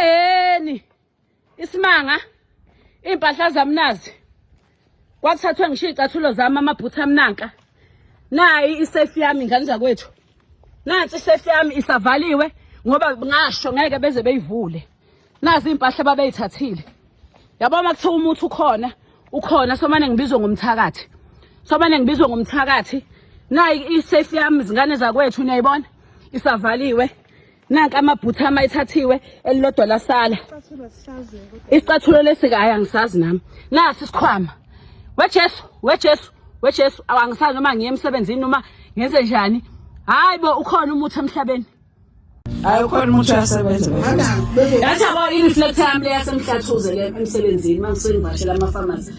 Eni isimanga impahla zamnazi kwakuthathwe ngisho icathulo zami amaphutha amnanka nayi isafe yami ngane zakwethu nansi isafe yami isavaliwe ngoba ngasho ngeke beze beyivule nazi impahla babeyithathile yabo makuthiwa umuthi ukhona ukhona somane ngibizwe ngomthakathi somane ngibizwe ngomthakathi nayi isafe yami zingane zakwethu niyayibona isavaliwe nanka amabhutha ama ethathiwe elilodwa lasala isicathulo lesika hayi angisazi nami nasi isikhwama wejesu wejesu wejesu awangisazi noma ngiye emsebenzini noma ngenze njani hayi bo ukhona umuthi emhlabeni hayi ukhona umuthi uyasebenza yathi abo i-reflector yami leyasemhlathuze le emsebenzini uma ngisengivashela amafamasi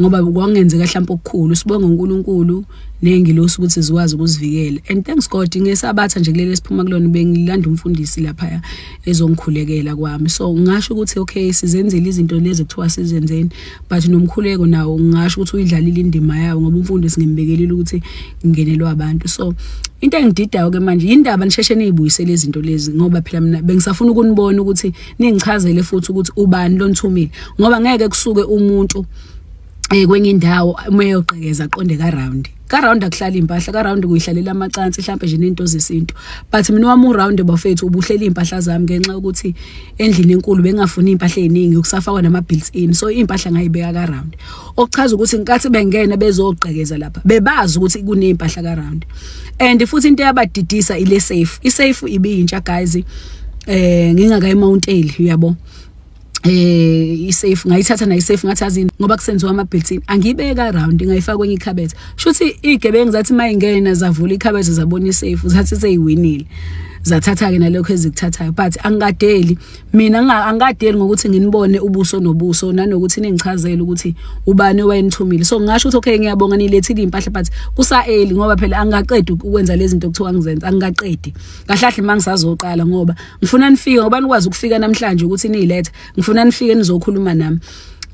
ngoba kwakungenzeka mhlawumbe okukhulu sibonga uNkulunkulu nengilosi ukuthi zikwazi ukuzivikela and thanks God ngesabatha nje kuleli siphuma kulona bengilanda umfundisi lapha ezongikhulekela kwami so ngasho ukuthi okay sizenzele izinto lezi kuthiwa sizenzeni but nomkhuleko nawo ngasho ukuthi uyidlalile indima yawo ngoba umfundisi ngimbekelile ukuthi ngingenelwa abantu so into engididayo ke manje yindaba nisheshe niyibuyisele izinto lezi ngoba phela mina bengisafuna ukunibona ukuthi ningichazele futhi ukuthi ubani lonithumile ngoba ngeke kusuke umuntu eh kwenye indawo uma eyoqhekeza aqonde ka round ka round akuhlala impahla ka round kuyihlalela amacansi mhlawumbe nje nento zesintu but mina wami u round bafethu ubuhlela impahla zami ngenxa ukuthi endlini enkulu bengafuni impahla eziningi ukusafakwa nama built in so impahla ngayibeka ka round okuchaza ukuthi nkathi bengena bezoqhekeza lapha bebazi ukuthi kunempahla ka round and futhi into yabadidisa ile safe i safe ibiyintsha guys eh ngingaka emountain uyabo eh isafe ngayithatha nayi safe ngathi azini ngoba kusenziwa ama built-in angiyibeka around ngayifaka kwenye ikhabethe shuthi igebengu zathi mayingena zavula ikhabethe zabona isafe zathi seyiwinile zathatha ke nalokho ezikuthathayo but angikadeli mina angikadeli ngokuthi nginibone ubuso nobuso nanokuthi ningichazele ukuthi ubani owayenithumile so ngingasho ukuthi okay ngiyabonga nilethile impahla but kusaeli ngoba phela angikaqedi ukwenza lezi zinto kuthiwa ngizenza angikaqedi kahlahle mangisazoqala ngoba ngifuna nifike ngoba nikwazi ukufika namhlanje ukuthi niyilethe ngifuna nifike nizokhuluma nami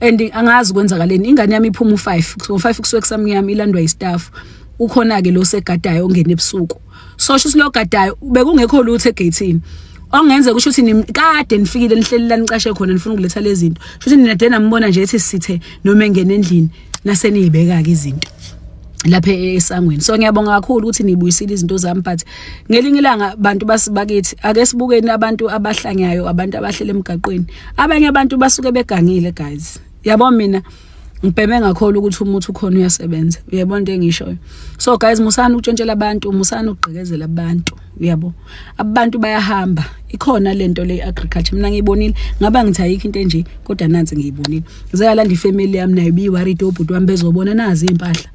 and angazi kwenzakaleni ingane yami iphuma u5 ngo5 kusuke kusamnyama ilandwa istaff ukhona ke lo segadayo ongena ebusuku sosho ukuthi logadayo bekungekho lutho egethini ongenze kusho ukuthi nikade nifikile nihleli la nicashe khona nifuna ukuletha lezinto sho ukuthi nina de nambona nje ethi sithe noma engene endlini naseniyibeka ke izinto lapha esangweni so ngiyabonga kakhulu ukuthi nibuyisile izinto zami but ngelinye ilanga abantu basibakithi ake sibukeni abantu abahlanyayo abantu abahlele emgaqweni abanye abantu basuke begangile guys yabo mina ngibheme ngakholwa ukuthi umuthi ukhona uyasebenza uyabona into engishoyo so guys musani ukutshentshela abantu musani ukugqekezela abantu uyabo abantu bayahamba ikhona lento le agriculture mina ngiyibonile ngaba ngithi ayikho into enje kodwa nansi ngiyibonile zeyalanda ifamily yami nayo biyi worried obhuti wami bezobona nazi impahla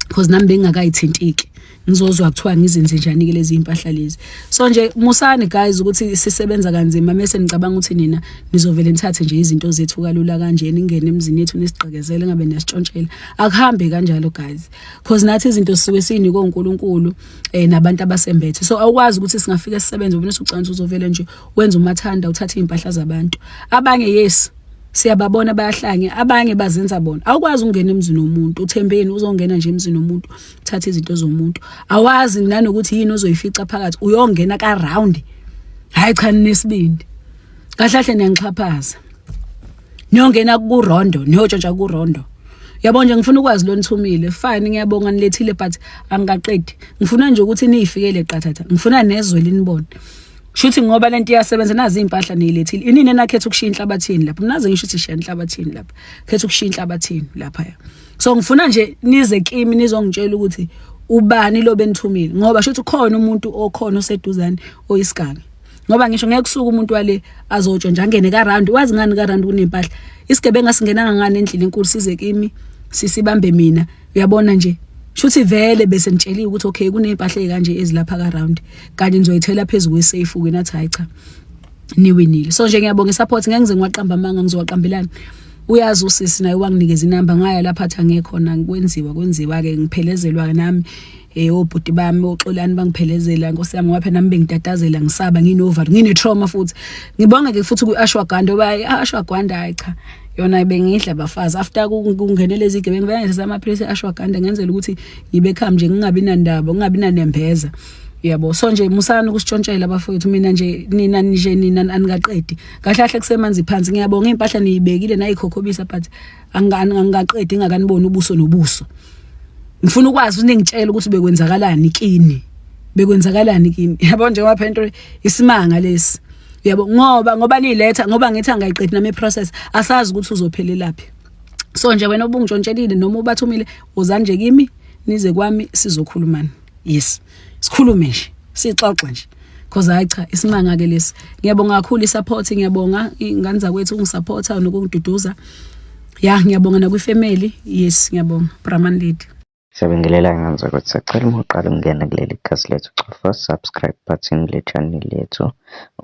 because nami bengingakayithintiki ngizozwa kuthiwa ngizenze njani ke lezi impahla lezi so nje musani guys ukuthi sisebenza kanzima mase nicabanga ukuthi nina nizovele nithathe nje izinto zethu kalula kanje ningene emzini yethu nisigqekezele ngabe nesitshontshela akuhambe kanjalo guys because nathi izinto sisuke sinikwe uNkulunkulu eh nabantu abasembethe so awukwazi ukuthi singafika sisebenze ubona usucansa uzovele nje wenza umathanda uthathe impahla zabantu abanye yes siyababona bayahlange abanye bazenza bona awukwazi ukungena emzini womuntu uthembeni uzongena nje emzini womuntu thatha izinto zomuntu awazi nanokuthi yini ozoyifica phakathi uyongena ka round hayi cha nesibindi kahlahle niyangixhaphaza niyongena ku rondo niyotshotsha ku rondo yabo nje ngifuna ukwazi lo nithumile fine ngiyabonga nilethile but angikaqedi ngifuna nje ukuthi niyifikele qathatha ngifuna nezwe linibone shuthi ngoba lento iyasebenza nazi impahla niyilethile inini enakhetha ukushiya inhlabathini lapha nazi ngisho ukuthi shiya inhlabathini lapha khetha ukushiya inhlabathini lapha so ngifuna nje nize kimi nizongitshela ukuthi ubani lo benithumile ngoba shuthi khona umuntu okhona oseduzane oyisiganga ngoba ngisho ngeke kusuka umuntu wale azotsho nje angene ka round wazi ngani ka round kunempahla isigebenga singenanga ngani endlini enkulu size kimi sisibambe mina uyabona nje shuthi vele bese nitsheliwe ukuthi okay kunempahla kanje ezilapha ka round kanye nizoyithela phezulu kwesafe wena cha cha niwinile so nje ngiyabonga support ngeke ngize ngiwaqamba amanga ngizowaqambelani uyazi usisi naye wanginikeza inamba ngaya lapha athi angekhona ngikwenziwa kwenziwa ke ngiphelezelwa nami eh obhuti bami oxolani bangiphelezela nkosi yami ngapha nami bengitatazela ngisaba nginover ngine trauma futhi ngibonga ke futhi kuashwaganda oba ashwaganda hayi cha yona bengidla bafazi after kungenele izigebengu bengenza amaphilisi ashwaganda ngenzela ukuthi ngibe kham nje ngingabi nandaba ngingabi nanembeza yabo so nje musani ukusitshontshela bafowethu mina nje nina nje nina anikaqedi kahle kahle kusemanzi phansi ngiyabonga impahla niyibekile nayikhokhobisa but angikaqedi ingakaniboni ubuso nobuso ngifuna ukwazi unengitshela ukuthi bekwenzakalani kini bekwenzakalani kini yabo nje ngapha into isimanga lesi yabo ngoba ngoba niletha ngoba ngithi angayiqedi nami process asazi ukuthi uzophelelaphi so nje wena obungitshontshekile noma ubathumile uzanje kimi nize kwami sizokhulumana yes sikhulume nje sixoxe nje because hayi cha isimanga ke lesi ngiyabonga kakhulu isupport ngiyabonga ingane zakwethu ungisupporta nokungiduduza ya ngiyabonga nakwifamily yes ngiyabonga brahman lady Siyabingelela ngani zakwethu sacela uma uqala ukungena kuleli khasi lethu cofa subscribe button le channel yethu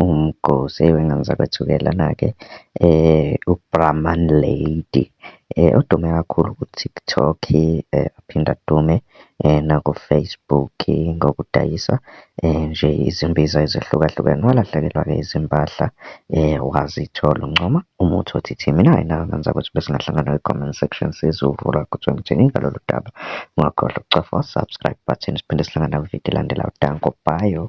umgosi ewe ngani zakwethu-ke lana-ke eh ubrahman lady eh odume kakhulu ku-tiktok eh aphinde adume naku-Facebook ngokudayisa nje izimbiza ezehlukahlukene. Walahlekelwa-ke izimpahla wazithola uNcoma, umuthi othi Thimi. Nayi nawe ngenzeka ukuthi besingahlangana kwi-comment section sizovula ukuthi ngithini ngalolu daba. Ungakhohlwa ukucofa u-subscribe button siphinde sihlangana kwividiyo elandelayo. Danko, bye.